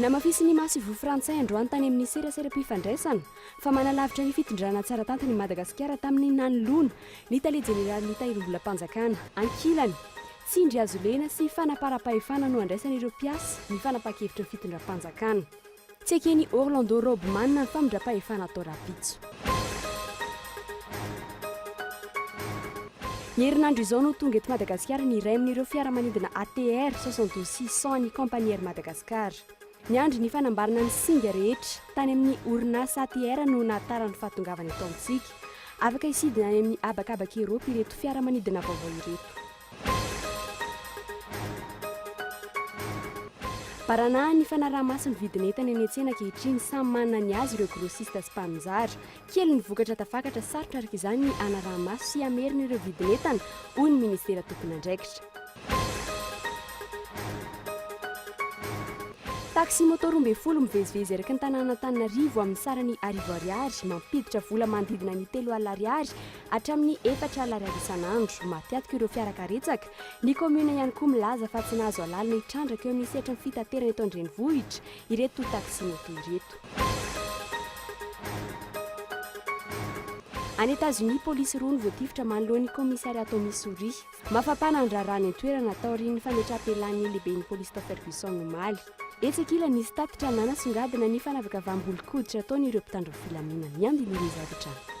Namafisin'ny Masoivoho Frantsay androany tany amin'ny seraseram-pifandraisana fa manalavitra ny fitondrana tsara tantin'i Madagasikara tamin'ny nanoloana ny Tale Jeneralin'ny Tahirimbolam-panjakana ankilany. Tsindry hazo lena sy fanaparam-pahefana no andraisan'ireo mpiasa ny fanapahan-kevitry ny fitondram-panjakana. Tsy eken'i Orlando Roby Manana ny famindram-pahefana atao rahampitso. Ny herinandro izao no tonga eto Madagasikara ny iray amin'ireo fiaramanidina ATR soixante douze six cent an'ny Compagnie Air Madagascar. Niandry ny fanambarana ny singa rehetra tany amin'ny orinasa ATR no nahatara ny fahatongavany eto amintsika. Afaka hisidina any amin'ny habakabak'i Eropa ireto fiaramanidina vaovao ireto. Baranahan'ny fanaraha-maso ny vidin'entana eny an-tsena ankehitriny, samy manana ny azy ireo grossistes sy mpaninjara. Kely ny vokatra tafakatra, sarotra araka izany ny hanaraha-maso sy hamerina ireo vidin'entana, hoy ny minisitera tompon'andraikitra. Taxi moto roa ambin'ny folo mivezivezy eraky ny tanànan'Antananarivo amin'ny sarany arivo ariary, mampiditra vola manodidina ny telo alina ariary, hatramin'ny efatra Ar ariary isan'andro. Mafiatoka ireo fiara karetsaka. Ny kaominina ihany koa milaza fa tsy nahazo alalana hitrandraka eo amin'ny sehatry ny fitaterana eto an-drenivohitra ireto taxi-moto ireto. Any Etazonia, polisy roa no voatifitra manoloana ny kaomisariat ao Missouri. Mafampana ny raharaha any an-toerana taorian'ny fametraham-pialan'ny lehiben'ny polisy tao Ferguson omaly. Etsy ankilany, nisy tatitra nanasongadina ny fanavakavaham-bolon-koditra ataon'ireo mpitandro ny filaminana. Ny andininy izay avy hatrany.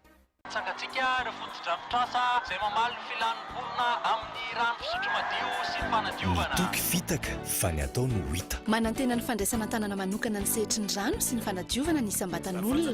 Tsangantsika ireo fotodrafitrasa izay mamaly ny filan'ny mponina amin'ny rano fisotro madio sy ny fanadiovana. Ny toky fitaka fa ny atao no hita. Manantena ny fandraisana an-tanana manokana ny sehatry ny rano sy ny fanadiovana ny isam-batan'olona.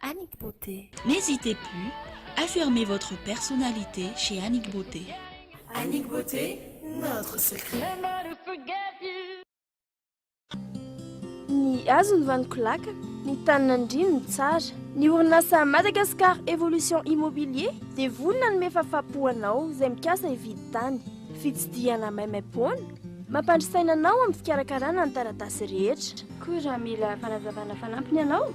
Annick Beauté. N'hésitez plus, affirmez votre personnalité chez Annick Beauté. Annick Beauté, notre secret. Ny hazo ny vaniko laka, ny tany nandrino ny tsara. Ny orinasa Madagascar Evolution Immobilier dia vonona hanome fafapo ho anao izay mikasa hividy tany. Fitsidihana maimaimpoana, mampandry saina anao amin'ny fikarakarana ny taratasy rehetra. Koa raha mila fanazavana fanampiny ianao,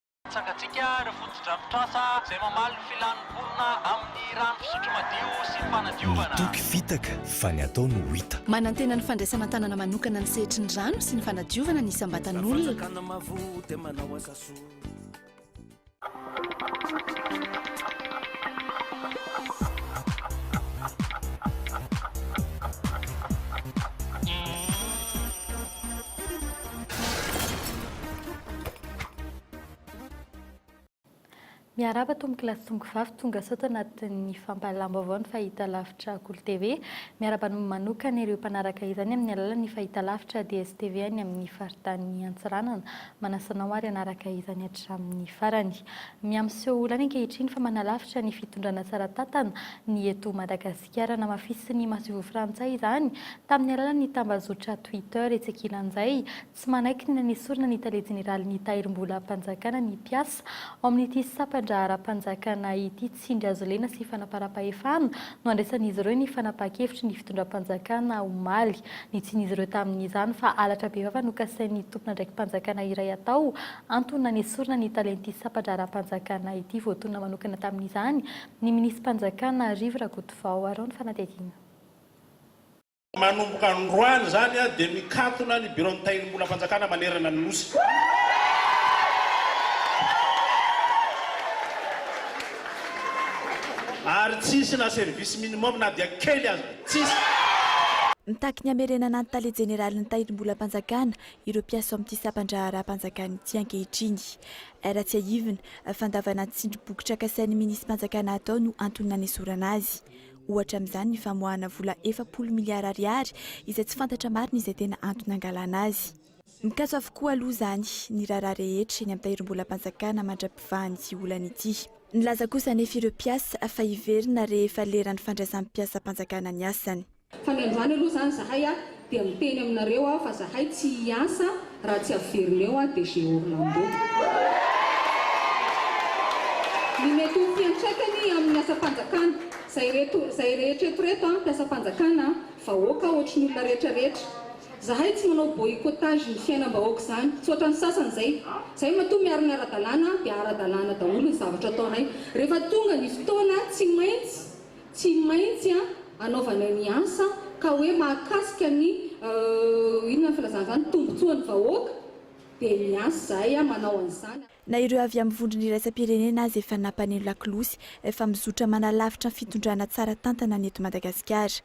Tsangantsika ireo fotodrafitrasa izay mamaly ny filan'ny mponina amin'ny rano fisotro madio sy ny fanadiovana. Ny toky fitaka fa ny atao no hita. Manantena ny fandraisana an-tanana manokana ny sehatry ny rano sy ny fanadiovana ny isam-batan'olona. Miarahaba tompoko lahy sy tompoko vavy tonga sao tanatin'ny fampahalalam-baovao ny fahitalavitra Kolo TV. Miarahaba ny manokana ireo mpanaraka izany amin'ny alalan'ny fahitalavitra DSTV any amin'ny faritany Antsiranana. Manasa anao ary hanaraka izany hatramin'ny farany. Miha miseho olana ankehitriny fa manalavitra ny fitondrana tsara tantana ny eto Madagasikara. Namafisin'ny masoivoho frantsay izany tamin'ny alalan'ny tambazotra Twitter etsy ankilan'izay. Tsy manaiky ny hanesorana ny tale jeneralin'ny Tahirimbolam-panjakana ny mpiasa. Ao amin'ity sampan-draharaham-panjakana ity tsindry azo lena sy fanaparam-pahefana no andraisan'izy ireo ny fanapahan-kevitry ny fitondram-panjakana omaly. Nitsian'izy ireo tamin'izany fa halatra bevava no kasain'ny tompon'andraiki-panjakana iray hatao antony nanesorana ny talen'ity sampan-draharaham-panjakana ity. Voatonona manokana tamin'izany ny minisi-panjakana Rivo Rakotovao. Araho ny fanadihadiana. Manomboka androany izany dia mikatona ny biraon'ny Tahirimbolam-panjakana manerana ny Nosy. Ary tsy hisy na service minimum na dia kely aza. Tsy hisy. Mitaky ny hamerenana ny Tale Jeneralin'ny Tahirimbolam-panjakana ireo mpiasa ao amin'ity sampan-draharaham-panjakana ity ankehitriny. Ra tsiahivina, fandavana ny tsindry boky trakasain'ny Minisipanjakana atao no antony nanesorana azy. Ohatra amin'izany ny famoahana vola efapolo miliara ariary izay tsy fantatra marina izay tena antony nangalana azy. Mikatso avokoa aloha izany ny raharaha rehetra eny amin'ny tahirim-bolam-panjakana mandra-pivahan'ity olana ity. Nilaza kosa anefa ireo mpiasa fa hiverina rehefa leran'ny fandraisam-piasam-panjakana ny asany. Fanendroany aloha izany izahay a! Dia miteny aminareo aho fa zahay tsy hiasa raha tsy averina eo aho DG Orlando. Ny mety ho fiantraikany amin'ny asam-panjakana, zay reto, zay rehetra eto reto an, mpiasam-panjakana an, vahoaka ohatry ny olona rehetra rehetra. Zahay tsy manao boycottage ny fiainam-bahoaka izany, tsy ohatran'ny sasany izay. Zahay matoa miaro ny ara-dalàna dia ara-dalàna daholo ny zavatra ataonay. Rehefa tonga ny fotoana tsy maintsy. Tsy maintsy an anaovanay ny asa ka hoe mahakasika ny euh inona ny filazana izany tombotsoa ny vahoaka dia miasa izahay an manao an'izany. Na ireo avy amin'ny vondrona iraisam-pirenena aza efa nampaneno lakolosy fa mizotra manalavitra ny fitondrana tsara tantana ny eto Madagasikara.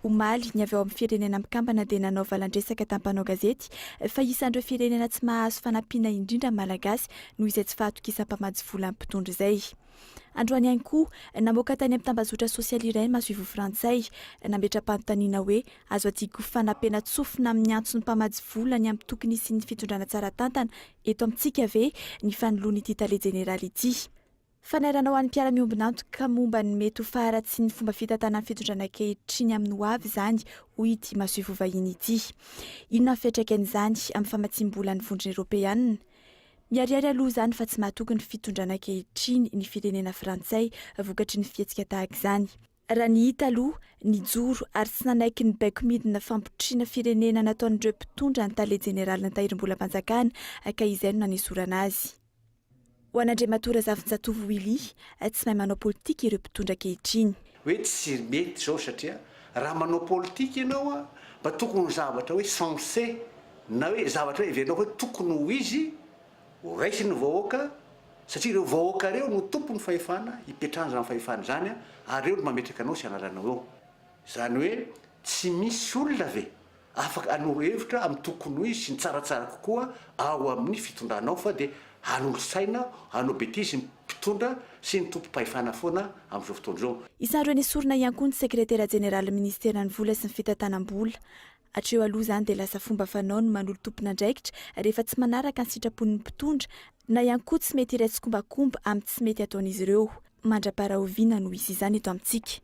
Omaly, ny avy ao amin'ny Firenena Mikambana dia nanao valandresaka tamin'ny mpanao gazety fa isan'ireo firenena tsy mahazo fanampiana indrindra ny Malagasy noho izay tsy fahatokisam-pamatsy volan'ny mpitondra izay. Androany ihany koa, namoaka tany amin'ny tambazotra sosialy iray ny masoivoho frantsay, nametra-panontaniana hoe azo adiky ho fanampiana-tsofina amin'ny antson'ny mpamatsy vola ny antoko nisy ny fitondrana tsara tantana eto amintsika ve ny fanoloan'ity tale jeneraly ity fanairana ho an'ny mpiara-miombon'antoka momba ny mety ho faharatsian'ny fomba fitantanan'ny fitondrana ankehitriny amin'ny ho avy izany, hoy ity masoivoho vahiny ity. Inona ny fiantraikan'izany amin'ny famatsiam-bolan'ny Vondrona Eoropeana? Miharihary aloha izany fa tsy mahatoky ny fitondrana ankehitriny ny firenena frantsay vokatry ny fihetsika tahaka izany. Raha ny hita aloha, nijoro ary tsy nanaiky ny baiko midina fampitrotriana firenena nataon'ireo mpitondra ny tale jeneralin'ny tahirimbolam-panjakana ka izay no nanesorana azy. Ho an'Andriamatoa Razafinjatovo Willy, tsy mahay manao politika ireo mpitondra ankehitriny. Hoe tsy mety izao satria raha manao politika ianao mba tokony ho zavatra hoe sensé. na hoe zavatra heverinao hoe tokony ho izy horaisin'ny vahoaka satria ireo vahoaka ireo no tompon'ny fahefana hipetrahany izany fahefana izany ary ireo no mametraka anao sy anaranao eo izany hoe tsy misy olona ve afaka hanoro hevitra amin'ny tokony ho izy sy ny tsaratsara kokoa ao amin'ny fitondranao fa dia hanolo saina hanao betizy ny mpitondra sy ny tompom-pahefana foana amin'izao fotoana izao. Isan'ireo nesorina ihany koa ny sekretera jeneralin'ny ministeran'ny vola sy ny fitantanam-bola, Hatreo aloha izany dia lasa fomba fanao ny manolo tompon'andraikitra rehefa tsy manaraka ny sitrapon'ny mpitondra na ihany koa tsy mety hiray tsikombakomba amin'ny tsy mety ataon'izy ireo. Mandra-parahoviana no hisy izany eto amintsika?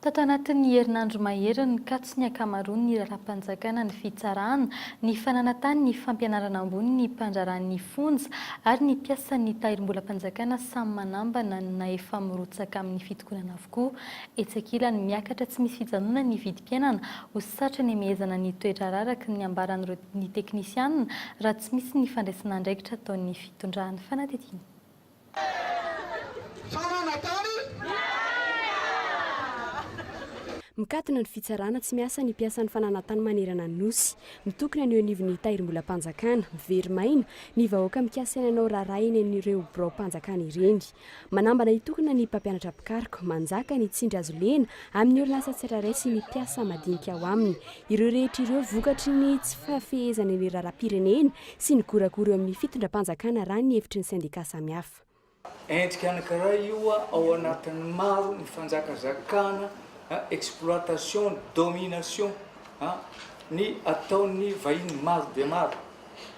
Tato anatin'ny herinandro mahery nikatso ny ankamaroan'ny raharaham-panjakana ny fitsarana, ny fananantany, ny fampianarana ambony, ny mpandraharahan'ny fonja ary ny mpiasan'ny tahirimbolam-panjakana samy manambana na efa mirotsaka amin'ny fitokonana avokoa. Etsy ankilany, miakatra tsy misy fijanonana ny vidim-piainana. Ho satry ny hamehezana ny toe-draharaha araka ny ambaran'ireo ny teknisianina, raha tsy misy ny fandraisana andraikitra ataon'ny fitondran'ny fanadihadiana. Mikatona ny fitsarana tsy miasa ny mpiasan'ny fananantany manerana ny Nosy. Mitokona ny eo anivon'ny Tahirimbolam-panjakana. Very maina, ny vahoaka mikasa ny hanao raharaha eny amin'ireo biraom-panjakana ireny. Manambana hitokona ny mpampianatra mpikaroka manjaka ny tsindry azo lena amin'ny orinasa tsirairay sy ny mpiasa madinika ao aminy. Ireo rehetra ireo vokatry ny tsy fahafehezana ny raharaham-pirenena sy ny goragora eo amin'ny fitondram-panjakana raha ny hevitry ny sendika samihafa. Endrika anankiray io ao anatin'ny maro ny fanjakazakana, exploitation, domination, ny ataon'ny vahiny maro dia maro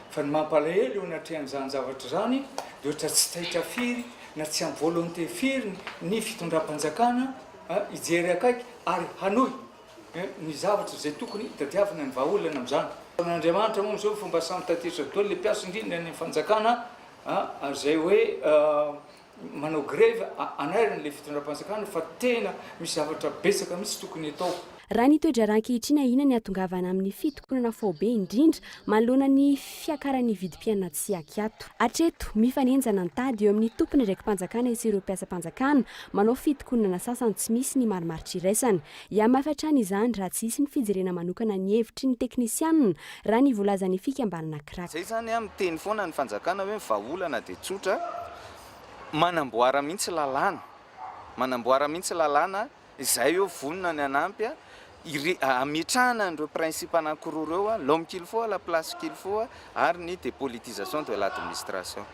Fa ny mampalahelo eo anatrehan'izany zavatra izany dia ohatra tsy taitra firy na tsy ampy volonté firy ny fitondram-panjakana hijery akaiky ary hanohy ny zavatra izay tokony hitadiavana ny vahaolana amin'izany. Andriamanitra moa amin'izao ny fomba samy tatitra daholo ilay mpiasa indrindra ny fanjakana ary izay hoe Manao greve anarany le fitondram-panjakana fa tena misy zavatra betsaka mihitsy tokony atao. Raha ny toe-draharaha ankehitriny ahiana ny hatongavana amin'ny fitokonana faobe indrindra manoloana ny fiakaran'ny vidim-piainana tsy ankiato. Hatreto, mifanenjana ny tady eo amin'ny tompon'andraiki-panjakana sy ireo mpiasam-panjakana manao fitokonana sasany tsy misy ny marimaritra iraisana. Hiahy mafy hatrany izany raha tsy hisy ny fijerena manokana ny hevitry ny teknisianina, raha ny voalazan'ny fikambanana Crac. Izay izany an, miteny foana ny fanjakana hoe ny vahaolana dia tsotra, manamboara mihitsy lalàna, manamboara mihitsy lalàna izay hoe vonona ny hanampy an, hametrahana an'ireo principe anankiroa ireo an, l'homme qu'il faut, la place qu'il faut. ary ny dépolitisation de l'administration.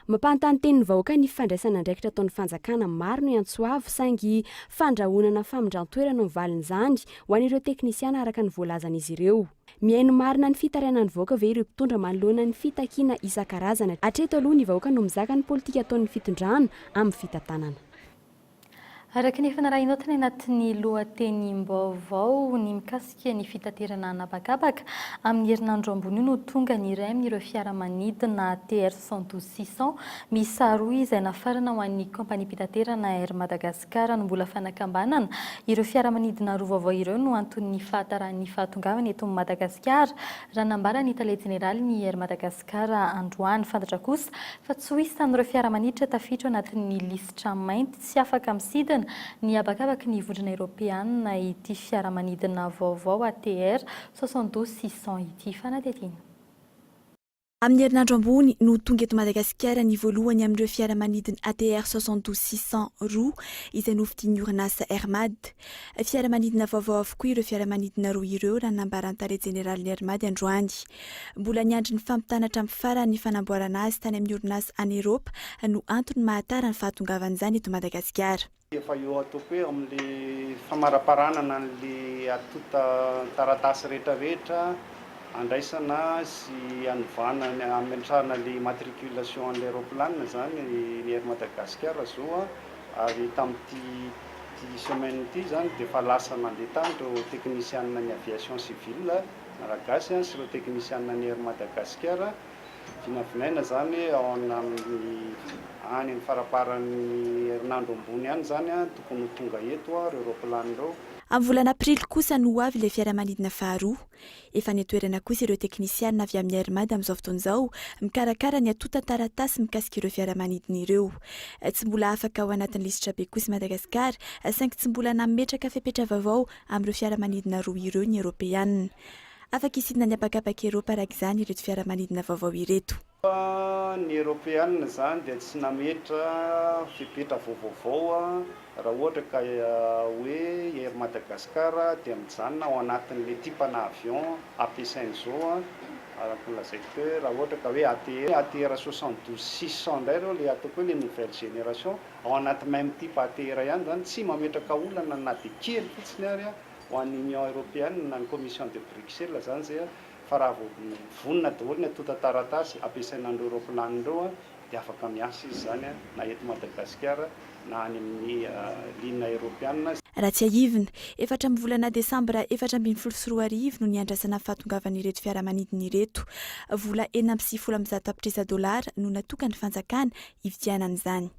Mampanontany teny ny vahoaka ny fandraisana andraikitra ataon'ny fanjakana maro no iantso avo saingy fandrahonana famindran-toerana no valin'izany ho an'ireo teknisiana araka ny voalazan'izy ireo. Mihaino marina ny fitarainan'ny vahoaka ve ireo mpitondra manoloana ny fitakiana isan-karazany? Hatreto aloha ny vahoaka no mizaka ny politika ataon'ny fitondrana amin'ny fitantanana. Araka ny efa narahinaao tany anatin'ny lohatenim-baovao, ny mikasika ny fitaterana an'habakabaka, amin'ny herinandro ambony io no tonga ny iray amin'ireo fiaramanidina TR cent douze six cent miisa roa izay nafarana ho an'ny kaompaniam-pitaterana Air Madagascar no mbola fanakambanana ireo fiaramanidina roa vaovao ireo no anton'ny fahatarahan'ny fahatongavany eto Madagasikara raha nambaran'ny tale jeneralin'ny Air Madagascar Ka raha androany fantatra kosa fa tsy ho hisy tamin'ireo fiaramaniditra tafiditra ao anatin'ny lisitra mainty tsy afaka misidina ny habakabaky ny vondrona eropeanina ity fiaramanidina vaovao ATR soixante douze six cents ity fanadihadiana Amin'ny herinandro ambony no tonga eto Madagasikara ny voalohany amin'ireo fiaramanidin'ny ATR soixante douze six cents roa izay nofidian'ny orinasa Air Mad. Fiaramanidina vaovao avokoa ireo fiaramanidina roa ireo raha ny nambaran'ny Tale jeneralin'ny Air Mad androany. Mbola niandry ny fampitana hatramin'ny farany ny fanamboarana azy tany amin'ny orinasa any Eropa no antony mahatara ny fahatongavan'izany eto Madagasikara. Efa eo atoko hoe amin'ny famaraparanana an'le atonta taratasy rehetra rehetra andraisana sy anovana ny ametrahana le immatriculation an'le roplanina zany ny Air Madagascar zao a, ary tamin'ity ity semaine ity zany dia efa lasa nandeha tany reo teknisianina ny aviation civile. Malagasy sy ireo teknisianina ny Air Madagasikara. Vinavinaina izany ao amin'ny any amin'ny faramparan'ny herinandro ambony any izany tokony ho tonga eto ireo roplanina ireo. Amin'ny volana aprily kosa no ho avy ilay fiaramanidina faharoa. Efa any an-toerana kosa ireo teknisianina avy amin'ny Air Mad amin'izao fotoana izao mikarakara ny antontan-taratasy mikasika ireo fiaramanidina ireo. Tsy mbola afaka ao anatin'ny lisitrabe kosa i Madagasikara saingy tsy mbola nametraka fepetra vaovao amin'ireo fiaramanidina roa ireo ny Eoropeana. Afaka hisidina ny habakabak'i Eropa araka izany ireto fiaramanidina vaovao ireto. Fa ny Eoropeana izany dia tsy nametra fepetra vaovaovao raha ohatra ka hoe Air Madagascar dia mijanona ao anatin'ilay tipana avion ampiasaina izao, araka ny lazaiko teo hoe raha ohatra ka hoe ATR, ATR soixante douze six cent indray ireo ilay ataoko hoe ilay nouvelle génération. Ao anaty même type athée iray ihany izany, tsy mametraka olana na dia kely fotsiny ary ho an'ny Union Européenne na ny Commission de Bruxelles izany izay fa raha vao vonona daholo ny antontan-taratasy ampiasaina an'ireo raoplanina ireo dia afaka miasa izy izany na eto Madagasikara na any amin'ny ligne Europeana. Raha tsiahivina, efatra amin'ny volana desambra efatra ambin'ny folo sy roa arivo no niandrasana ny fahatongavan'ireto fiaramanidina ireto. Vola enina amby sivifolo amin'ny zato tapitrisa dolara no natokan'ny fanjakana hividianana izany.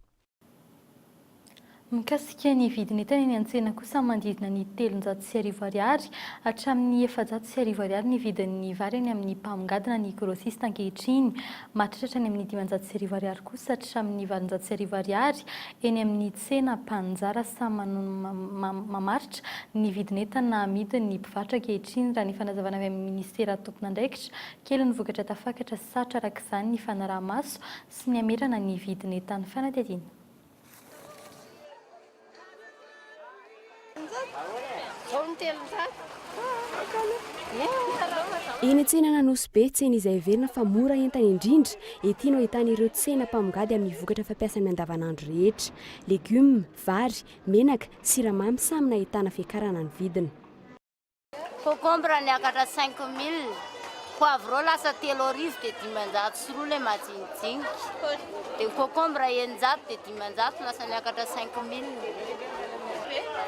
Mikasika ny vidin'entana eny an-tsena kosa, manodidina ny telonjato sy arivo ariary hatramin'ny efajato sy arivo ariary ny vidin'ny vary any amin'ny mpamongady na ny grossiste ankehitriny. Mahatratra any amin'ny dimanjato sy arivo ariary kosa hatramin'ny valonjato sy arivo ariary eny amin'ny tsena. Mpanjara samy manao ny mamaritra ny vidin'entana amidin'ny mpivarotra ankehitriny, raha ny fanazavana avy amin'ny minisitera tompon'andraikitra. Kely ny vokatra tafakatra, sarotra araka izany ny fanaraha-maso. sy ny hamerana ny vidin'entan'ny fanadihadiana. Eny an-tsenan'Anosibe, tsena izay heverina fa mora entana indrindra, ety no ahitana ireo tsena mpamongady amin'ny vokatra fampiasa amin'ny andavanandro rehetra. Legioma, vary, menaka, siramamy samy nahitana fiakarana ny vidiny. Concombre niakatra cinq mille, poivron lasa telo arivo dia dimanjato sy roa ilay majinijinika, dia ny concombre eninjato dia dimanjato lasa niakatra cinq mille,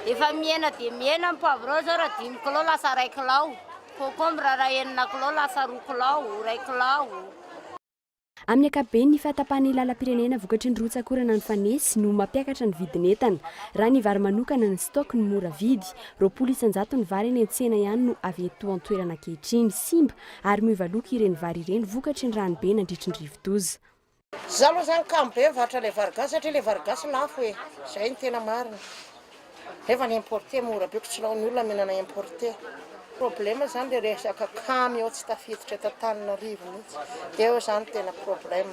efa mihena dia mihena ny poivron izao raha dimy kilao lasa iray kilao, concombre raha enina kilao lasa roa kilao, iray kilao. Amin'ny ankapobeny, ny fahatapahan'ny lalam-pirenena vokatry ny rotsak'orana nifanesy no mampiakatra ny vidin'entana. Raha ny vary manokana, ny stock no mora vidy. Roapolo isan-jato ny vary eny an-tsena ihany no avy eto an-toerana ankehitriny. Simba ary miova loko ireny vary ireny vokatry ny ranobe nandritry ny rivodoza. Za aloha zany kamo be mivarotra ilay vary gasy satria ilay vary gasy lafo e! Izay no tena marina. Nefa ny importer mora be ko tsy laon'ny olona mihinana importer. Problème zany le resaka camion tsy tafiditra eto Antananarivo mihitsy. Eo zany tena problème.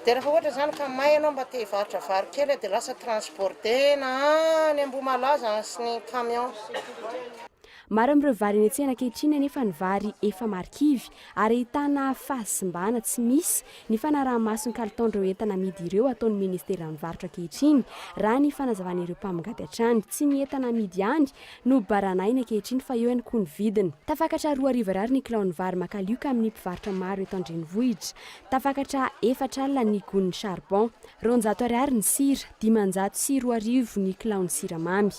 De refa ohatra zany ka may ianao mba te hivarotra vary kely de lasa transbordena any Ambohimalaza sy ny camion. Maro amin'ireo vary eny an-tsena ankehitriny anefa ny vary efa marikivy ary ahitana fahasimbana tsy misy ny fanaraha-maso ny kalitaon'ireo entana amidy ireo ataon'ny ministeran'ny varotra ankehitriny, raha ny fanazavan'ireo mpamongady hatrany. Tsy ny entana amidy ihany no baranahiny ankehitriny fa eo ihany koa ny vidiny. Tafakatra roa hariva ariary ny kilaon'ny vary makalioka amin'ny mpivarotra maro eto an-drenivohitra. Tafakatra efatra alina ny gon'ny charbon. Roanjato ariary ny sira, dimanjato sy roa arivo ny kilaon'ny siramamy.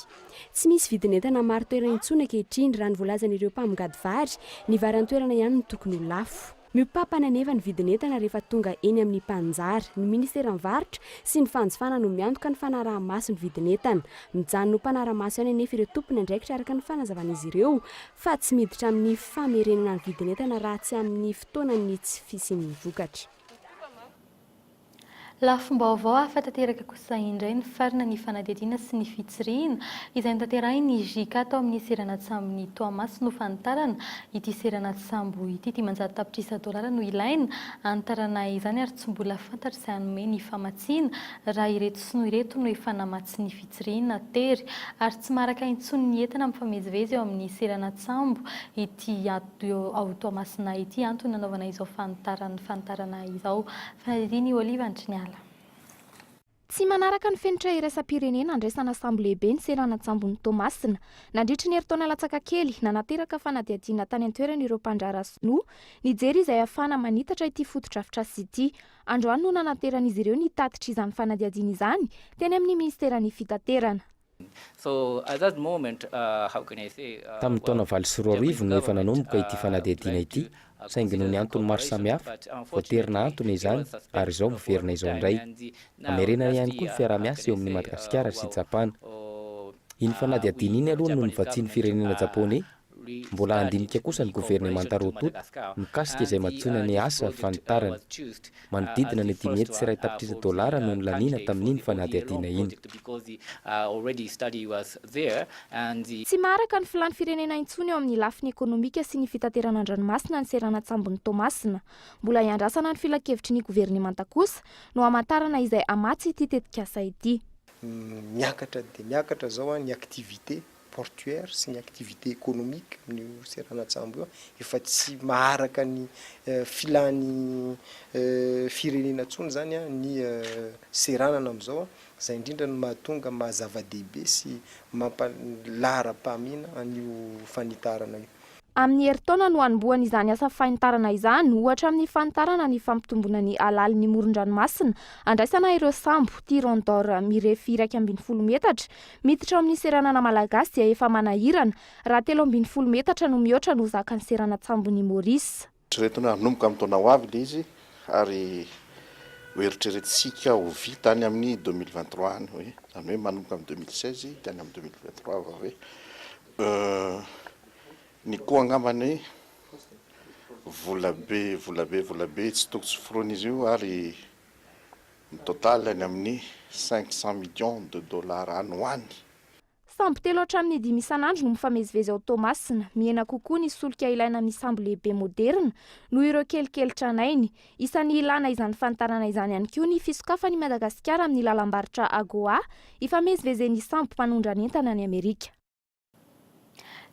Tsy misy vidin'entana marin-toerana intsony ankehitriny, raha ny voalazan'ireo mpamongady vary. Ny vary an-toerana ihany no tokony ho lafo. Miopapana anefa ny vidin'entana rehefa tonga eny amin'ny mpaninjara. Ny ministeran'ny Varotra sy ny fanjifana no miantoka ny fanaraha-maso ny vidin'entana. Mijanona ho mpanara-maso ihany anefa ireo tompon'andraikitra araka ny fanazavan'izy ireo fa tsy miditra amin'ny famerenana ny vidin'entana raha tsy amin'ny fotoanan'ny tsy fisian'ny vokatra. Lafim-baovao hafa tanteraka kosa indray ny farina ny fanadihadiana sy ny fitsirihina izay notanterahin'ny JK tao amin'ny seranan-tsambon'i Toamasina ho fanitarana ity seranan-tsambo ity. Dimanjato tapitrisa dolara no ilaina hanitarana izany ary tsy mbola fantatra izay hanome ny famatsiana raha ireto sinoa ireto no efa namatsy ny fitsirihina tery ary tsy maharaka intsony ny entana mifamezivezy eo amin'ny seranan-tsambo ity Io ao Toamasina ity antony nanaovana izao fanitarana fanitarana izao. Fanirian' i Olive andry niala. Tsy manaraka ny fenitra iraisam-pirenena andraisana sambo lehibe ny seranan-tsambon'i Toamasina. Nandritry ny herintaona latsaka kely, nanateraka fanadihadiana tany an-toerana ireo mpandraharaha sinoa, nijery izay hahafahana manitatra ity fotodrafitrasa ity. Androany no nanateran'izy ireo ny tatitra izany fanadihadiana izany, teny amin'ny minisiteran'ny Fitaterana. Tamin'ny taona valo sy roa arivo no efa nanomboka ity fanadihadiana ity, saingy noho ny antony maro samihafa, voatery nahantona izany ary izao miverina izao indray. Hamerenana ihany koa ny fiaraha-miasa eo amin'i Madagasikara sy Japana. Iny fanadihadiana iny aloha no novatsian'ny firenena Japoney Mbola handinika kosa ny governemanta roa tonta mikasika izay mantsoina ny asa fanitarana. Manodidina ny dimy hetsy sy iray tapitrisa dolara no nolaniana tamin'iny fanadihadiana iny. Tsy maharaka ny filàn'ny firenena intsony eo amin'ny lafiny ekonomika sy ny fitaterana an-dranomasina ny seranan-tsambon'i Toamasina. Mbola hiandrasana ny filankevitry ny governemanta kosa no hamantarana izay hamatsy ity tetikasa ity. Miakatra dia miakatra izao ny activités portuaire sy ny activité économique amin'io seranan-tsambo io efa tsy maharaka ny filan'ny firenena intsony izany ny seranana amin'izao, izay indrindra no mahatonga maha zava-dehibe sy mampa lahara-pahamehana an'io fanitarana io. Amin'ny herintaona no hanombohany izany asa fanitarana izany, ohatra amin'ny fanitarana ny fampitomboana ny halalin'ny moron-dranomasina, andraisana ireo sambo, Tiron d'or, mirefy iraika ambin'ny folo metatra, miditra ao amin'ny seranana malagasy dia efa manahirana, raha telo ambin'ny folo metatra no mihoatra no zakan'ny seranantsambo ny Maurice. Eritreretina hoe hanomboka amin'ny taona ho avy ilay izy ary ho eritreretintsika ho vita any amin'ny deux mille vingt trois any hoe izany hoe manomboka amin'ny deux mille seize dia any amin'ny deux mille vingt trois vao hoe euh ny koa angamba ny volabe volabe volabe tsy toko tsy foronina izy io ary ny total any amin'ny cinq cent millions de dollars any ho any. Sambo telo hatramin'ny dimy isan'andro no mifamezivezy ao Toamasina. Mihena kokoa ny solika ilaina amin'ny sambo lehibe moderina noho ireo kelikely tranainy. Isan'ny ilàna izany fanitarana izany ihany koa ny fisokafan'i Madagasikara amin'ny lalam-barotra AGOA ifamezivezen'ny sambo mpanondrana entana any Amerika.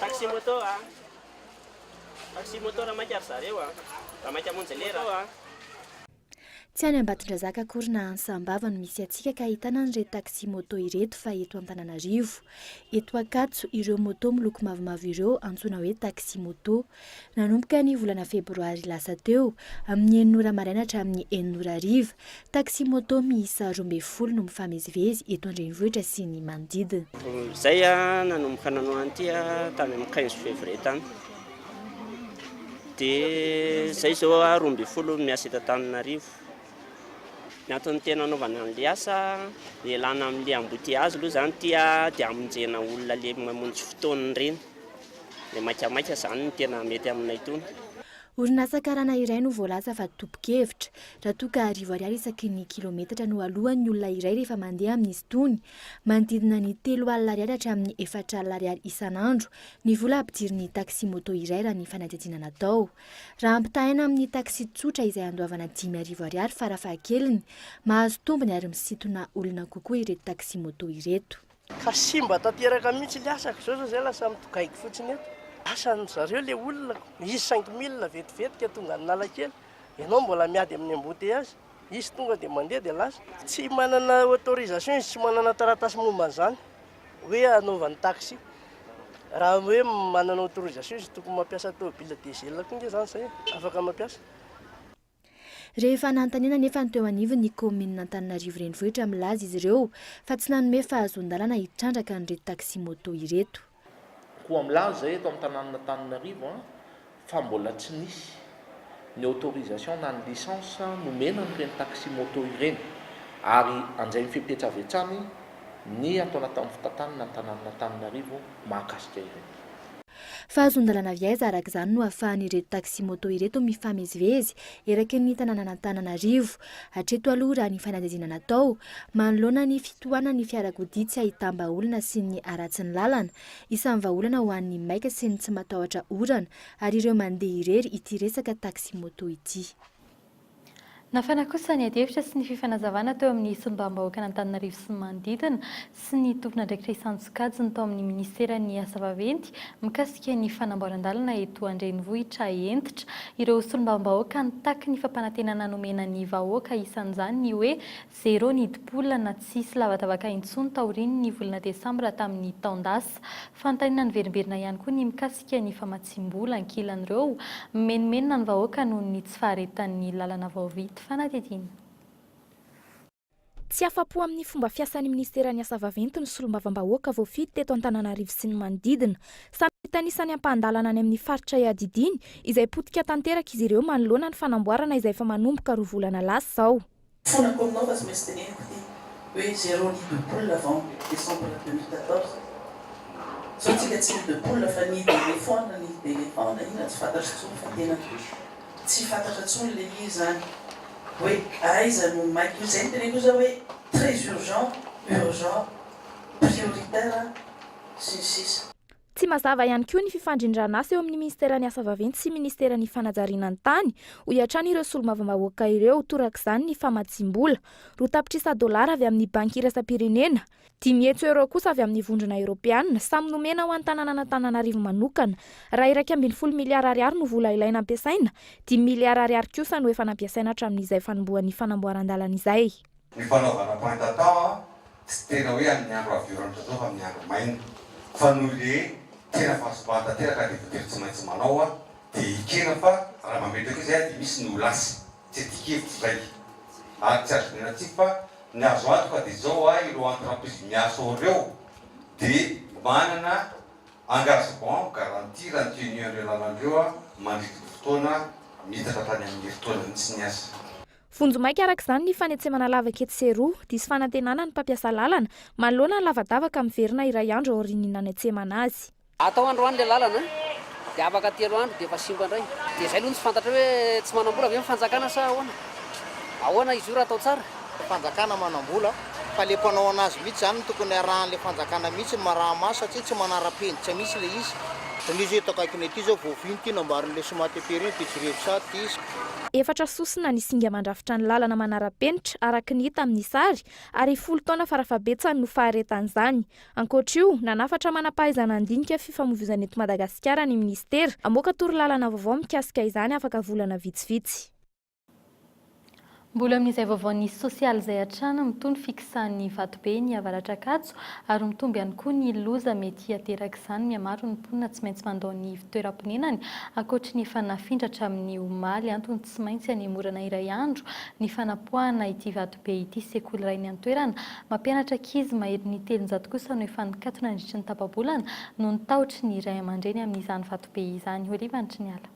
Taxi moto a! Taxi moto raha maika ry zareo a! Raha maika hamonjy lera a! Tsy any Ambatondrazaka akory na any Sambava no misy antsika ka ahitana an'ireto taxi moto ireto fa eto Antananarivo. Eto Ankatso, ireo moto miloko mavomavo ireo antsoina hoe taxi moto. Nanomboka ny volana febroary lasa teo, amin'ny enina ora maraina hatramin'ny enina ora hariva, taxi-moto miisa roa ambin'ny folo no mifamezivezy eto an-drenivohitra sy ny manodidina. Izay nanomboka nanao an'ity tany amin'ny quinze février tany, dia izay izao roa ambin'ny folo no miasa eto Antananarivo. Ny antony tena anaovana an'ilay asa, ialana amin'ilay embouteillage aloha izany ity dia hamonjena olona le mamonjy fotoana ireny. Dia maikamaika izany no tena mety aminay itony. Orinasa karana iray no voalaza fa tompon-kevitra. Raha toa ka arivo ariary isaky ny kilometatra no aloan'ny olona iray rehefa mandeha amin'izy itony, manodidina ny telo alina ariary hatramin'ny efatra alina ariary isan'andro ny vola ampidirin'ny taxi-moto iray raha ny fanadihadiana natao. Raha ampitahaina amin'ny taxi tsotra izay andoavana dimy arivo ariary farafahakeliny, mahazo tombony ary misintona olona kokoa ireto taxi-moto ireto. Ka simba tanteraka mihitsy le asako zao zao zay lasa mitogaiko fotsiny eto. Asa ny zareo le olona izy cinq mille vetivety ka tonga any Analakely, ianao mbola miady amin'ny embouteillage, izy tonga dia mandeha dia lasa. Tsy manana autorisation izy, tsy manana taratasy momba an'izany hoe hanaovany taxi. Raha hoe manana autorisation izy tokony mampiasa tôbila diesel koa nge zany zay e, afaka mampiasa. Rehefa nanontaniana anefa ny teo anivon'ny kaominina Antananarivo Renivohitra milaza izy ireo fa tsy nanome fahazoan-dalana hitrandraka an'ireto taxi-moto ireto. Koa milaza eto amin'ny tanànan'Antananarivo fa mbola tsy nisy ny autorisation na ny licence nomena an'ireny taxi-moto ireny ary anjain'ny fepetra avy hatrany ny atao anatin'ny fitantanana ny tanànan'Antananarivo mahakasika ireny. Fa azon-dalana avy aiza araka izany no ahafahan'ireto taxi-moto ireto mifamezivezy eraky ny tanànan'Antananarivo? Hatreto aloha raha ny fanadihadiana natao, manoloana ny fitohanan'ny fiarakodia tsy ahitam-bahaolana sy ny haratsin'ny lalana, isan'ny vahaolana ho an'ny maika sy ny tsy matahotra orana ary ireo mandeha irery ity resaka taxi-moto ity. Nafana kosa ny adihevitra sy ny fifanazavana teo amin'ny solombavambahoakan'Antananarivo sy ny manodidina sy ny tompon'andraikitra isan-tsokajiny tao amin'ny minisiteran'ny Asa vaventy mikasika ny fanamboaran-dalana eto an-drenivohitra hentitra ireo solombavambahoaka nitaky ny fampanantenana nomena ny vahoaka isan'izany ny hoe Zéro ny dipoolana, tsy hisy lavadavaka intsony taorian' ny volana desambra tamin' ny taon-dasa. Fanontaniana niverimberina ihany koa ny mikasika ny famatsiam-bola ankilan' ireo mimenomenona ny vahoaka noho ny tsy faharetan' ny lalana vaorit fanadihadiana. Tsy afa-po amin'ny fomba fiasan'ny minisiteran'ny Asa vaventy ny solombavambahoaka voafidy teto Antananarivo sy ny manodidina. Samy mitanisa ny ampahan-dalana any amin'ny faritra iadidiany, izay potika tanteraka izy ireo manoloana ny fanamboarana izay efa manomboka roa volana lasa izao. Fonako aminao fa tsy maintsy teneniko ity hoe zero nid de poule avant décembre deux mille quatorze zao tsika tsy nid de poule fa nid d'éléphant na nid d'éléphant na inona tsy fantatro tsony fa tena tsy fantatra tsony le izy zany hoe aiza no maika misy zay ny teneniko zao hoe très urgent urgent prioritaire sy ny sisa. Tsy mazava ihany koa ny fifandrindran'asa eo amin'ny Ministeran'ny Asa Vaventy sy Ministeran'ny Fanajariana ny Tany, hoy hatrany ireo solombavambahoaka ireo, torak'izany ny famatsiam-bola, roa tapitrisa dolara avy amin'ny Banky Iraisam-pirenena, dimy hetsy euros kosa avy amin'ny Vondrona Eoropeana, samy nomena ho an'ny tanànan'Antananarivo manokana. Raha iraika ambin'ny folo miliara ariary no vola ilaina ampiasaina, dimy miliara ariary kosa no efa nampiasaina hatramin'izay fanombohan'ny fanamboaran-dalana izay. Ny fanaovana pointa tao tsy tena hoe amin'ny andro avy orana ohatr'izao fa amin'ny andro maina fa noho le tena fahasombana tanteraka dia voatery tsy maintsy manao dia ekena fa raha mametraka io zay dia misy ny ho lasa tsy atikevitro zay ary tsy azo dinihana tsy fa ny azo antoka dia zao a ireo entreprise miasa ao reo dia manana engagement garantie raha ny tenu an'ireo lalan-dreo mandritry ny fotoana miitatra tany amin'ny herintaona mihitsy ny asa. Vonjimaika araka izany ny fanetsemana lavaka etsy sy eroa. Diso fanantenana ny mpampiasa lalana manoloana ny lavadavaka miverina iray andro aorian'ny nanetsemana azy. Atao androany ilay lalana dia afaka telo andro dia efa simba indray. Dia izay aloha no tsy fantatra hoe tsy manam-bola ve ny fanjakana sa ahoana? Ahoana izy io raha atao tsara? Fanjakana manam-bola fa ilay mpanao an'azy mihitsy izany no tokony arahan'ilay fanjakana mihitsy ny maraha-maso satria tsy manara-penitra mihitsy ilay izy. Fa misy eto akaikina ety izao voafihy ity nambarin'ilay Somateperi iny, Pitsirievsat, ity. Efatra sosona ny singa mandrafitra ny lalana manara-penitra, araka ny hita amin'ny sary, ary folo taona farafahabetsany no faharetan'izany. Ankoatra io, nanafatra manam-pahaizana handinika fifamoivoizana eto Madagasikara ny minisitera, hamoaka torolalana vaovao mikasika izany afaka volana vitsivitsy. Mbola amin'izay vaovao nisy sosialy izay hatrany mitohy ny fikisahan'ny vatobe ny avaratr'Ankatso ary mitombo ihany koa ny loza mety haterak'izany mihamaro ny mponina tsy maintsy mandao ny ivontoeram-ponenany ankoatry ny efa nafindra hatramin'ny omaly antony tsy maintsy hanemorana iray andro ny fanapoahana ity vatobe ity sekoly iray niantoerana mampianatra ankizy maherin'ny telonjato kosa no efa nikatona nandritry ny tapa-bolana noho ny tahotry ny ray aman-dreny amin'izany vatobe izany Olive Antriniala.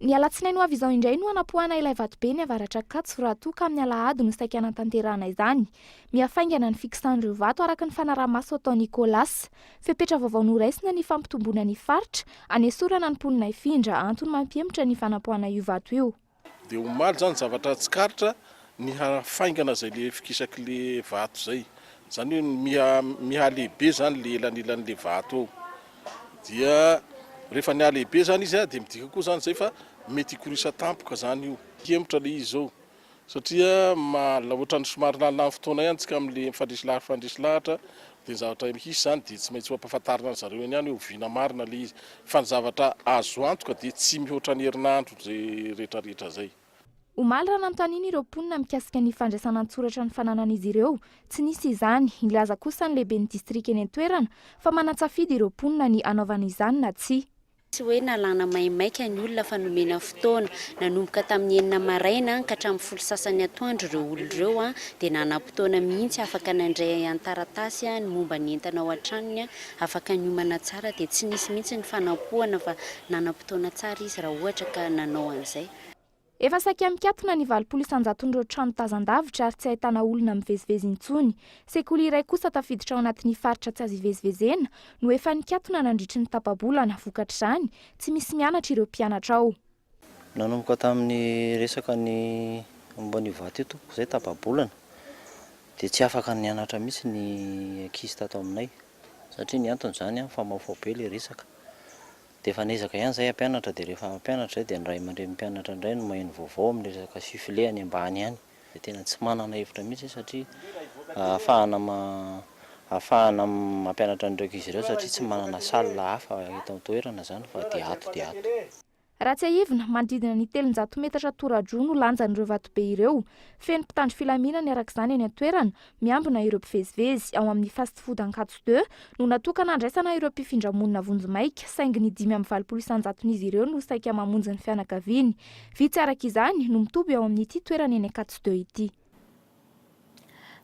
Ny alatsinainy ho avy izao indray no hanapoahana ilay vatobe ny avaratr'Ankatso raha toa ka amin'ny alahady no saika hanatanterahana izany. Mihafaingana ny fikisan'ireo vato araka ny fanaraha-maso atao Nicolas. Fepetra vaovao noraisina ny fampitomboana ny faritra, hanesorana ny mponina hifindra, antony mampihemotra ny fanapoahana io vato io. Dia omaly izany zavatra tsikaritra ny hafaingana izay ilay fikisaka ilay vato izay. Izany hoe mihalehibe izany ilay elanelan'ilay vato eo. Dia rehefa ny halehibe izany izy dia midika koa izany izay fa mety hikorisa tampoka izany io. Hihemotra ilay izy izao satria ohatran'ny somary laninan'ny fotoana ihany isika amin'ilay mifandresy lahatra mifandresy lahatra dia ny zavatra hisy izany dia tsy maintsy ho ampahafantarina an-dry zareo eny ihany hoe oviana marina ilay izy. Fa ny zavatra azo antoka dia tsy mihoatra ny herinandro izay rehetrarehetra izay. Omaly raha nanontaniana ireo mponina mikasika ny fandraisana an-tsoratra ny fananan'izy ireo, tsy nisy izany. Nilaza kosa ny lehiben'ny distrika eny an-toerana fa manan-tsafidy ireo mponina ny hanaovana izany na tsia. Tsy hoe nalàna maimaika ny olona fa nomena fotoana. Nanomboka tamin'ny enina maraina ka hatramin'ny folo sasany atoandro ireo olona ireo dia nanam-potoana mihitsy afaka nandray an-taratasy ny momba ny entana ao an-tranony. afaka niomana tsara dia tsy nisy mihitsy ny fanampohana fa nanam-potoana tsara izy raha ohatra ka nanao an'izay. Efa saika mikatona ny valopolo isan-jaton'ireo trano tazan-davitra ary tsy ahitana olona mivezivezy intsony. Sekoly iray kosa tafiditra ao anatin'ny faritra tsy azo ivezivezena no efa nikatona nandritry ny tapa-bolana, vokatr'izany, tsy misy mianatra ireo mpianatra ao. Nanomboka tamin'ny resaka ny momba an'io vato io tompoko izay tapa-bolana dia tsy afaka nianatra mihitsy ny ankizy tato aminay satria ny antony izany an famaofao be ilay resaka dia efa niezaka ihany izahay hampianatra dia rehefa hampianatra izay dia ny ray aman-drenin'ny mpianatra indray no maheno vaovao amin'ny resaka sifle any ambany any dia tena tsy manana hevitra mihitsy izy satria ahafahana ahafahana mampianatra an'ireo ankizy ireo satria tsy manana salle hafa eto an-toerana izany fa dia ato dia ato. Raha tsiahivina, manodidina ny telonjato metatra tora-droa no lanjan'ireo vatobe ireo. Feno mpitandro filaminana araka izany eny an-toerana, Miambina ireo mpivezivezy ao amin'ny Fast Food Ankatso Deux no natokana handraisana ireo mpifindra monina vonjimaika saingy ny dimy amby valopolo isanjaton'izy ireo no saika mamonjy ny fianakaviany. Vitsy araka izany no mitoby ao amin'ity toerana eny Ankatso Deux ity.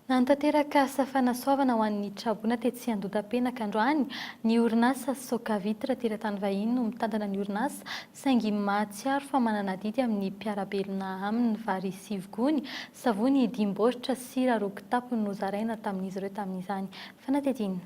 Nanatanteraka asa fanasoavana ho an'ny traboina tetsy Andotapenaka androany ny orinasa Soca Vitre teratany vahiny no mitantana ny orinasa Saingy mahatsiaro fa manana adidy amin'ny mpiara-belona aminy vary sivy gony, savony dimy baoritra, sira roa kitapo no zaraina tamin'izy ireo tamin'izany. Fanadihadiana.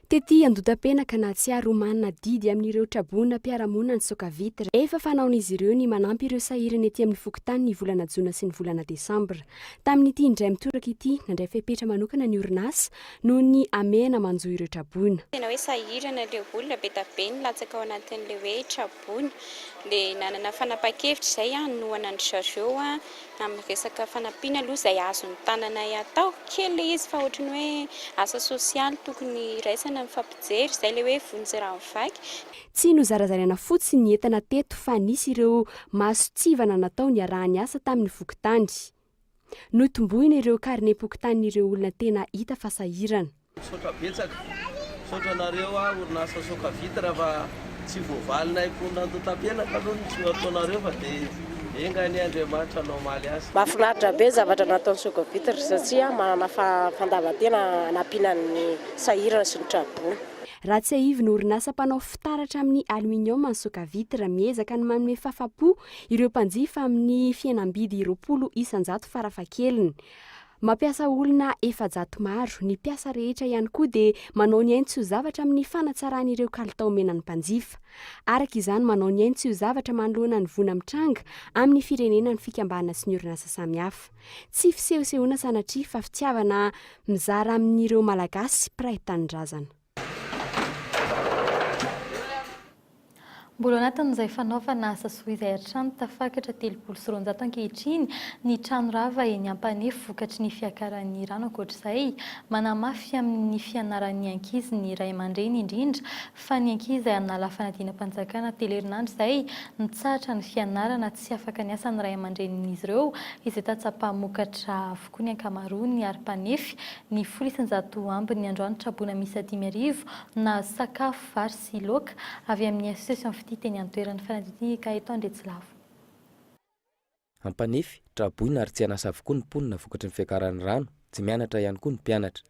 Tety Andotapenaka, nahatsiaro ho manana adidy amin'ireo traboina mpiara-monina ny Socavitr. Efa fanaon'izy ireo ny manampy ireo sahirana ety amin'ny fokontany ny volana jona sy ny volana desambra. Tamin'ity indray mitoraka ity, nandray fepetra manokana ny orinasa, noho ny hamehana manjo ireo traboina. Tena hoe sahirana ilay olona be dia be nilatsaka ao anatin'ilay hoe traboina. Dia nanana fanapahan-kevitra izay hanohana an-dry zareo amin'ny resaka fanampiana aloha izay azon'ny tananay atao. Kely ilay izy fa ohatry ny hoe asa sosialy tokony iraisana ny fampijery izay ilay hoe vonjy raha mivaky. Tsy nozarazaraina fotsiny ny entana teto fa nisy ireo mason-tsivana natao niaraha-niasa tamin'ny fokontany. Notomboina ireo karinem-pokontanin'ireo olona tena hita fa sahirana. Misaotra betsaka. Misaotra anareo orinasa Soka Vitre fa tsy voavalinay koa nandotam-piainana aloha ny tsy nataonareo fa dia enga anie Andriamanitra no hamaly azy. Mahafinaritra be zavatra nataon'ny Soka Vitre satria manana fandavan-tena hanampiana ny sahirana sy ny tra-boina. Raha tsiahivina orinasa mpanao fitaratra amin'ny aluminium ny Soka Vitre miezaka ny manome fafa-po ireo mpanjifa amin'ny fihenam-bidy roapolo isan-jato farafahakeliny. Mampiasa olona efajato maro, ny mpiasa rehetra ihany koa dia manao ny ainy tsy ho zavatra amin'ny fanatsarany ireo kalitao omena ny mpanjifa. Araka izany, manao ny ainy tsy ho zavatra manoloana ny voina mitranga amin'ny firenena ny fikambana sy ny orinasa samihafa. Tsy fisehosehoana sanatria fa fitiavana mizara amin'ireo Malagasy mpiray tanindrazana. Mbola ao anatin'izay fanaovana asa soa izay hatrany, tafakatra telopolo sy roanjato ankehitriny ny trano rava eny Ampanefy vokatry ny fiakaran'ny rano. Ankoatr'izay, manamafy amin'ny fianaran'ny ankizy ny ray aman-dreny indrindra fa ny ankizy an'ala fanadinam-panjakana telo herinandro izay mitsahatra ny fianarana tsy afaka ny asan'ny ray aman-drenin'izy ireo izay tatsa-pamokatra avokoa. koa ny ankamaroan' ny ary mpanefy ny folo isan-jato amby ny androany traboina miisa dimy arivo nahazo sakafo, vary sy loaka avy amin' ny Association Fitia teny an-toerana, fanadihadiana ka eto Andriatsilavo. Ampanefy, traboina ary tsy an'asa avokoa ny mponina vokatry ny fiakaran'ny rano, tsy mianatra ihany koa ny mpianatra.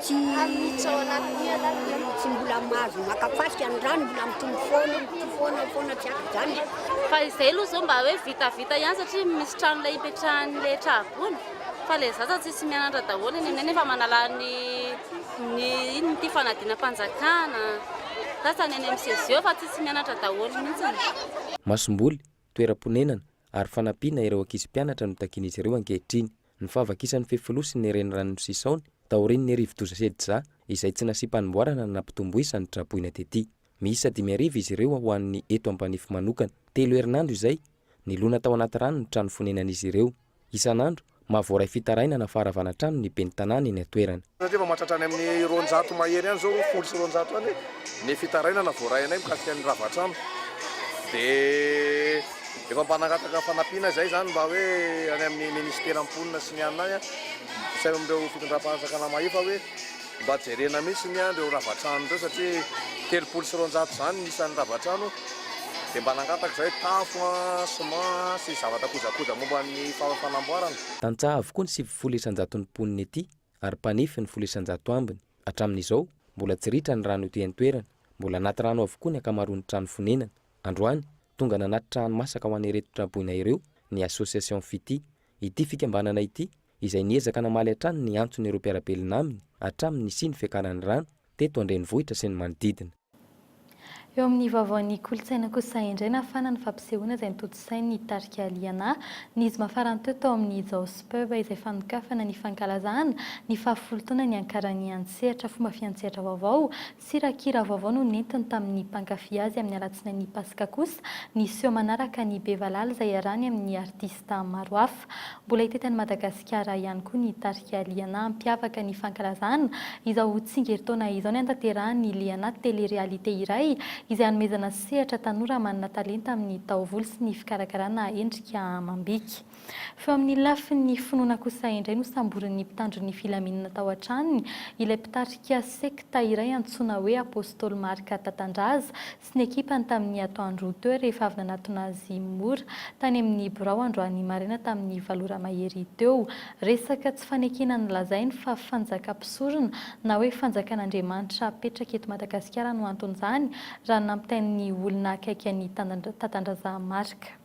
Tsy mbola mahazo maka fasika ny rano mbola mitombo foana mitombo foana foana tsy ampy izany. Fa izay aloha izao mba hoe vita vita ihany satria misy trano ilay ipetrahan'ny ilay tragony fa ilay zaza tsisy mianatra daholo eny aminay nefa manala ny ny inona ity fanadinam-panjakana sasany eny amin'ny CGE fa tsisy mianatra daholo mihitsy. Masomboly, toeram-ponenana ary fanampiana ireo ankizy mpianatra no takian'izy ireo ankehitriny. ny fahavakisany fefiloha sy ny renirano Misisaony taorian' ny rivodoza Sedza izay tsy nasiam-panomboarana na nampitomboisany traboina tety. Miisa dimy arivo izy ireo ho an' ny eto Ampanefy manokana. Telo herinandro izay, nilona tao anaty rano ny trano fonenan' izy ireo. Isan' andro, mahavoaray fitarainana faharavana trano ny ben'ny tanàna eny an-toerana. Satria efa mahatratra any amin'ny roanjato mahery any izao, folo sy roanjato any, ny fitarainana voaray anay mikasika ny ravatrano. Dia efa mpanangataka fanampiana izahay izany mba hoe any amin'ny minisitera mponina sy ny anona any, sy any amin'ireo fitondram-panjakana mahefa hoe mba jerena mihitsy ny an'ireo ravatrano ireo satria telopolo sy roanjato izany ny isan'ny ravatrano. Dia mba nangataka izahay tafo, ciment sy zavatra kojakoja momba ny fanamboarana. Tantsaha avokoa ny sivifolo isan-jaton'ny mponina ety. ary mpanefy ny folo isan-jato ambiny. Hatramin'izao, mbola tsy ritra ny rano ety an-toerana. Mbola anaty rano avokoa ny ankamaroan'ny trano fonenana. Androany, tonga nanatitra hani-masaka ho an'ireto tra-boina ireo ny Association Fiti. Ity fikambanana ity, izay niezaka namaly hatrany ny antson'ireo mpiara-belona aminy hatramin'ny nisian'ny fiakaran'ny rano teto an-drenivohitra sy ny manodidina. Eo amin'ny vaovaon'ny kolontsaina kosa indray nafana ny fampisehoana izay notontosain'ny tarika Liana, ny zoma farany teo tao amin'ny Jao's Pub izay fanokafana ny fankalazana ny fahafolo taona niankaran'ny an-tsehatra fomba fiantsehatra vaovao sy rakikira vaovao no nentiny tamin'ny mpankafy azy amin'ny alatsinain'ny paska kosa ny seho manaraka ny Be Valala izay iarahany amin'ny artista Stam maro hafa. Mbola hita tany Madagasikara ihany koa ny tarika Liana hampiavaka ny fankalazana izao tsingerin-taona izao ny antaterahan'ny Liana Télé-réalité iray izay hanomezana sehatra tanora manana talenta amin'ny taovolo sy ny fikarakarana endrika amam-bika. Fa eo amin'ny lafin'ny finoana kosa indray nosamborin'ny mpitandro ny filaminana tao an-tranony ilay mpitarika sekta iray antsoina hoe Apostoly Marc Tatandraza sy ny ekipany tamin'ny atoandro ho teo rehefa avy nanatona azy mora tany amin'ny birao androany maraina tamin'ny valo ora mahery teo. Resaka tsy fanekena nolazainy fa fanjakam-pisorona na hoe fanjakan'Andriamanitra apetraka eto Madagasikara no anton'izany raha nampitain'ny olona akaiky an'i Tatandrazahamarika.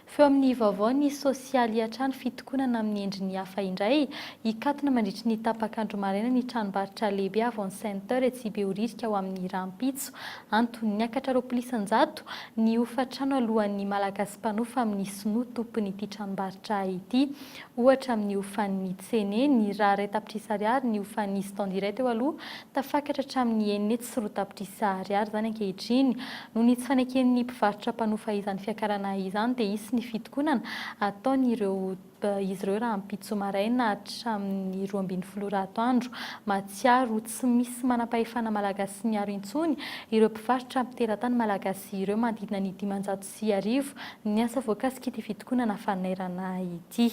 Feo amin'ny vaovao ny sosialy Hiatrano fitokonana amin'ny endriny hafa indray, hikatona mandritry ny tapak'andro maraina ny tranombarotra lehibe Avon Center etsy Behoririka ho amin'ny rahampitso. Antony, niakatra roapolo isan-jato ny hofan-trano aloan'ny Malagasy mpanofa amin'ny Sinoa tompon'ity tranombarotra ity. Ohatra, amin'ny hofan'ny Cene, niraharay tapitrisa ariary ny hofan'ny Standy iray teo aloha, tafakatra hatramin'ny enina hetsy. sy roa tapitrisa ariary izany ankehitriny. Noho ny tsy faneken'ny mpivarotra mpanofa izany fiakarana izany dia hisy ny fitokonana ataon'ireo izy ireo rahampitso maraina hatramin'ny roa ambin'ny folo ora atoandro. Mahatsiaro tsy misy manampahefana malagasy miaro intsony ireo mpivarotra amin'ny teratany malagasy ireo manodidina ny dimanjato sy arivo ny asa voakasik'ity fitokonana fanairana ity.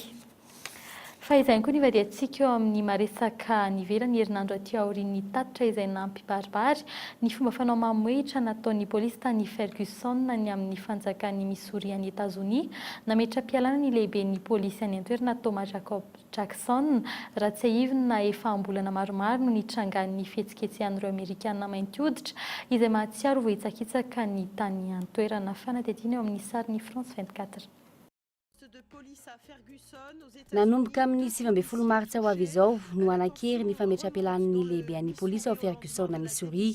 Fahizany koa ny ivadihantsika eo amin'ny maresaka any ivelany herinandro aty aorian'ny tatitra izay nampibaribary ny fomba fanao mamohehitra nataon'ny polisy tany Ferguson ny amin'ny fanjakan'i Missouri any Etazonia nametra-pialana ny lehiben'ny polisy any an-toerana Thomas Jacob Jackson raha tsiahivina efa am-bolana maromaro no nitrangan'ny fihetsiketsehan'ireo Amerikana mainty hoditra izay mahatsiaro vohitsakitsaka ny tany an-toerana fanadihadiana eo amin'ny sarin'ny France vingt-quatre Nanomboka amin'ny sivy ambin'ny folo martsa ho avy izao no hanan-kery ny fametrapelanin'ny lehibean'ny polisy ao Ferguson, Missouri.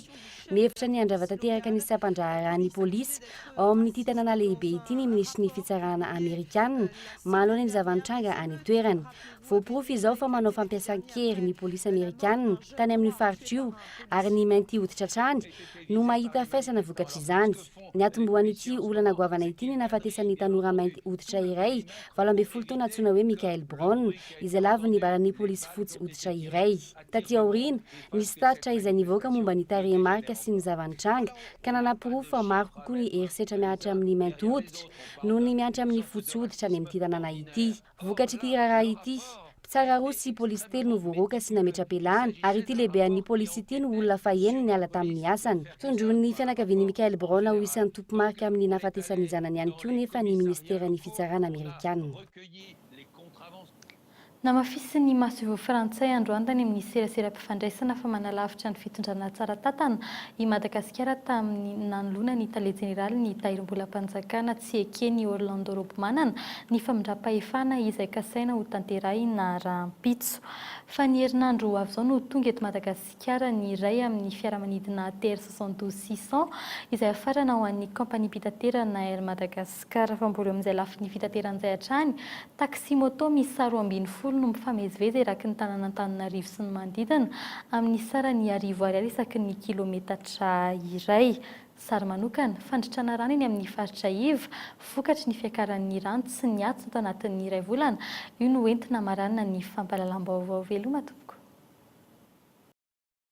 Mihevitra ny handrava tanteraka ny sampan-draharahan'ny polisy ao amin'ity tanàna lehibe ity ny minisitry ny Fitsarana Amerikana manoloana ny zava-nitranga any an-toerana. Voaporofo izao fa manao fampiasan-kery ny polisy Amerikana tany amin'io faritra io ary ny mainty hoditra hatrany no mahita faisana vokatr'izany. Niatombohan'ity olana goavana ity ny nahafatesan'ny tanora mainty hoditra iray, valo ambin'ny folo taona antsoina hoe Michael Brown, izay lavon'ny baran'ny polisy fotsy hoditra iray. Taty aoriana, nisy tatitra izay nivoaka momba ny tarehimarika sy ny zava-nitranga, ka nanaporofo fa maro kokoa ny herisetra mihatra amin'ny mainty hoditra noho ny mihatra amin'ny fotsy hoditra any amin'ity tanàna ity. Vokatr'ity raharaha ity, mpitsara roa sy polisy telo no voaroaka sy nametra-pialana ary ity lehibean'ny polisy ity no olona faheniny niala tamin'ny asany. Tondroin'ny fianakavian'i Michael Brown ho isan'ny tompo-marika amin'ny nahafatesan'ny zanany ihany koa nefa ny Ministeran'ny Fitsarana Amerikana. Namafisin'ny masoivoho frantsay androany tany amin'ny serasera fandraisana fa manalavitra ny fitondrana tsara tantana i Madagasikara tamin'ny nanoloana ny Tale Jeneraly ny Tahirimbolam-panjakana tsy eken' i Orlando Robomanana ny famindram-pahefana izay kasaina ho tanterahina rahampitso. Fa ny herinandro ho avy izao no tonga eto Madagasikara ny iray amin'ny fiaramanidina ATR soixante douze six cents izay hafarana ho an'ny kaompaniam-pitaterana Air Madagascar. Ka raha vao mbola eo amin'izay lafiny fitaterana izay hatrany, taxi-moto miisa roa ambin'ny folo no mifamezivezy eraky ny tanàn'Antananarivo sy ny manodidina, amin'ny sarany arivo ariary isaky ny kilometatra iray. Sary manokana, Fandritrana rano eny amin'ny faritra iva, vokatry ny fiakaran'ny rano tsy niato tanatin'ny iray volana, io no entina hamaranana ny fampahalalam-baovao. Veloma tompoko.